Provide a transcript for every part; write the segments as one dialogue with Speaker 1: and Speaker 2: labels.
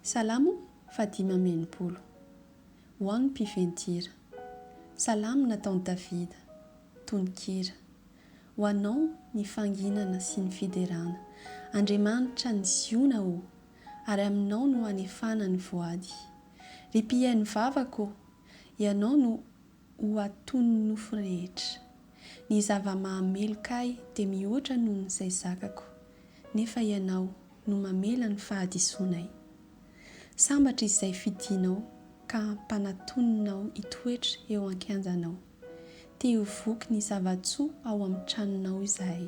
Speaker 1: Salamo fahadimy amby enimpolo. Ho an'ny mpifen-tira. Salamo nataon'i Davida. Tononkira. Ho Anao ny fanginana sy ny fiderana, Andriamanitra an'i Ziona ô, ary Aminao no hanefana ny voady. Ry mpihaino vavaka ô, Ianao no ho atonin'ny nofo rehetra. Ny zava-mahameloka ahy dia mihoatra noho izay zakako, nefa Ianao no mamela ny fahadisoanay. Sambatra izay fidinao ka ampanatoninao hitoetra eo an-kianjanao. Te ho voky ny zava-tsoa ao amin'ny tranonao izahay,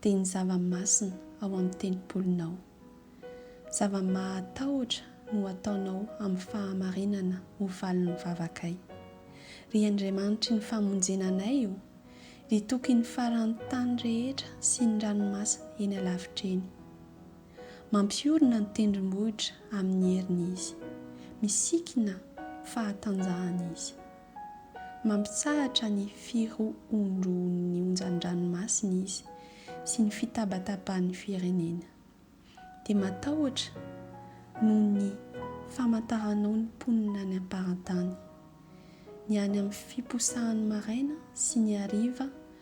Speaker 1: dia ny zava-masina ao amin'ny tempolinao. Zava-mahatahotra no ataonao amin'ny fahamarinana ho valin'ny vavakay. Ry Andriamanitry ny famonjena anay o! Ry Tokin'ny faran'ny tany rehetra sy ny ranomasina eny alavitra eny. Mampiorina ny tendrombohitra amin'ny heriny Izy. Misikina fahatanjahana Izy. Mampitsahatra ny firohondrohon'ny onjan-dranomasina izy sy ny fitabatabahan'ny firenena. Dia matahotra noho ny famantaranao ny mponina any am-parantany. Ny any amin'ny fiposahany maraina sy ny hariva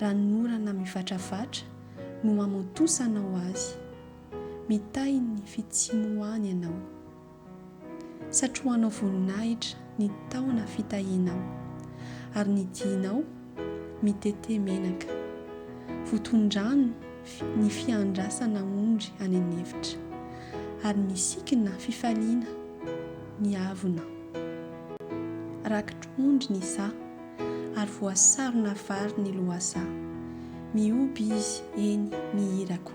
Speaker 1: Ranonorana mivatravatra no hamontosanao azy. Mitahy ny fitsimohany ianao. Satrohanao voninahitra ny taona fitahianao, ary ny dihinao mitete menaka. Voton-drano ny fiandrasana ondry any an'efitra, ary misikina fifaliana ny avonao. Rakitr'ondry ny saha. ary voasarona vary ny lohasaha. Mihoby izy eny ny irako.